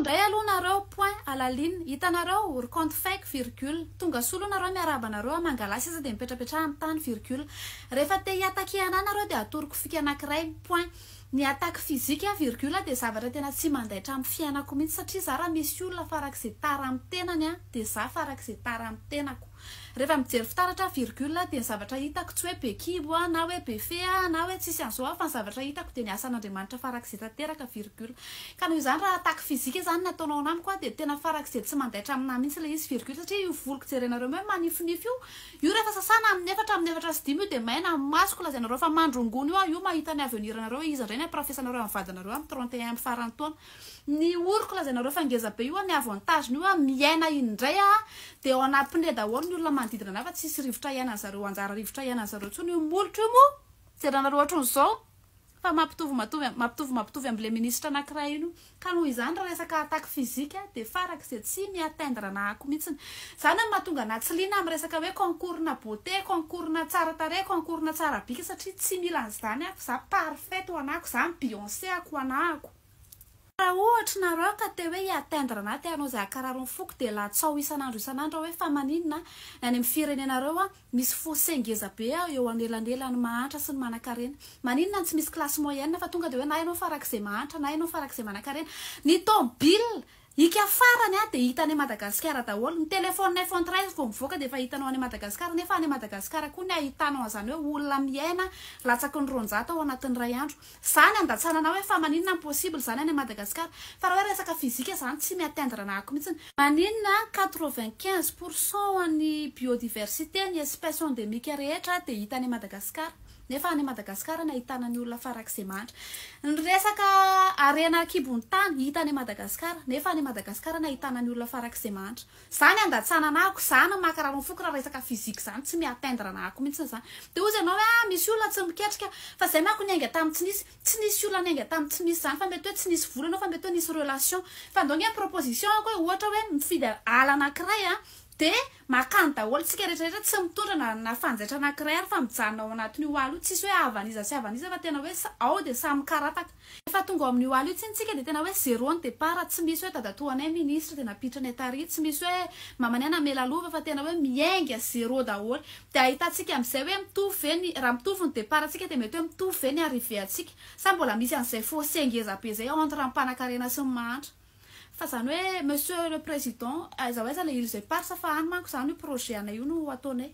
Ndray aloha nareo point à la ligne hitanareo ry compte fake virgule tonga soa aloha nareo miarahaba anareo a mangalà seza dia mipetrapetraha am tany virgule rehefa te hi attaquer anah nareo dia atoroko fika anakiray point ny attaque physique a virgule dia zavatra tena tsy mandaitra am fiainako mihitsy satria za raha misy olona farak'izay tara am tenany a dia za farak'izay tara am tenako. Rehefa mijery fitaratra, virgule, dia ny zavatra hitako tsy hoe be kibo aho na hoe be fe aho na hoe tsisy an'izao aho fa ny zavatra hitako dia ny asan'Andriamanitra farak'izay tanteraka, virgule. Ka noho izany raha attaque physique izany no ataonao an'ahy mko dia tena farak'izay tsy mandaitra amin'ahy mihitsy ilay izy, virgule, satria io voloko jerenareo hoe manifinify io, io rehefa sasana amin'ny efatra amin'ny efatra sy dimy io dia maina amin'ny masoko, lazainareo fa mandrongony io aho, io mahita ny avenir-nareo, iza indray ny hampirafesanareo an'ny vadinareo amin'ny trente et un amin'ny faran'ny taona. Ny oriko lazainareo fa ngeza be io a, ny avantage-ny io a, miaina indray a, dia ao anaty pneu daholo ny olona manodidina anay fa tsisy rivotra hiainan'ny zareo anjara rivotra hiainan'ny zareo intsony io molotra io moa jeranareo ohatran'izao fa mampitovy matovi mampitovy mampitovy am'le ministra anankiray iny io ka noho izany raha resaka attaque physique a dia farak'izay tsy mi atteindre ana ako mihitsiny zany no mahatonga ana tsy liana am resaka hoe concours-na beauté concours-na tsara tarehy concours-na tsara bika satria tsy mila an'izany ako za parfaite ho anako za mi Beyoncé ako ho anako Raha ohatry nareo ka te hoe hi-atteindre na te hanao izay hakararo ny foko dia latsaho isan'andro isan'andro aho hoe fa maninona ny any amin'ny firenenareo an misy fossé ngeza be eo anelanelan'ny mahantra sy ny manankarena? Maninona ny tsy misy classe moyenne fa tonga dia hoe na ianao farak'izay mahantra na ianao farak'izay manankarena? Ny tômôbila Ika farany a dia hita any Madagasikara daholo, ny téléphone iPhone treize vao mivoaka dia efa hitanao any Madagasikara, nefa any Madagasikara koa ny ahitanao an'izany hoe olona miaina latsaky ny roanjato ao anatin'ny iray andro, izany andatsanana hoe fa maninona no possible izany any Madagasikara, fa raha hoe resaka physique izany tsy mi atteindre anah ako mihitsy, maninona quatre vingt quinze pour cent an'ny biodiversité ny espèce endémique rehetra dia hita any Madagasikara, Nefa any Madagasikara no ahitana ny olona farak'izay mahantra. Ny resaka harena an-kibon'ny tany hita any Madagasikara, nefa any Madagasikara no ahitana ny olona farak'izay mahantra. Za ny andatsana anahako, za no makarary ny foko raha resaka physique zany, tsy mi atteindre anahako mihitsy zany. Dia hozy ianao hoe ah, misy olona tsy miketrika, fa izay manko niainga tamin'ny tsy nisy. Tsy nisy olona niainga tamin'ny tsy nisy zany, fa mety hoe tsy nisy vola ianao, fa mety hoe nisy relation. Fa ndao ange ny proposition-ko e, ohatra hoe mifidy ala anankiray an, dia. Makany daholo tsika rehetra rehetra tsy mitondra na na fanjaitra anankiray ary fa mijanona ao anatin'io ala io tsisy hoe havan'iza sy havan'iza fa tena hoe sa ao dia samy mikarataka. Rehefa tonga ao amin'io ala io tsiny tsika dia tena hoe zero ny départ tsy misy hoe dadatoa anay ministre dia nampiditra anay tary tsy misy hoe mamanay namela lova fa tena hoe miainga zero daholo dia ahitantsika amin'izay hoe mitovy ve ny raha mitovy ny départ antsika dia mety hoe mitovy ve ny arrivée antsika sa mbola misy an'izay fossé ngeza be zay entre ny mpanakarena sy ny mahantra Fa zany hoe Monsieur le Président, aiza ho aiza le îles éparses fa any manko zany io projet anay io no ataonay.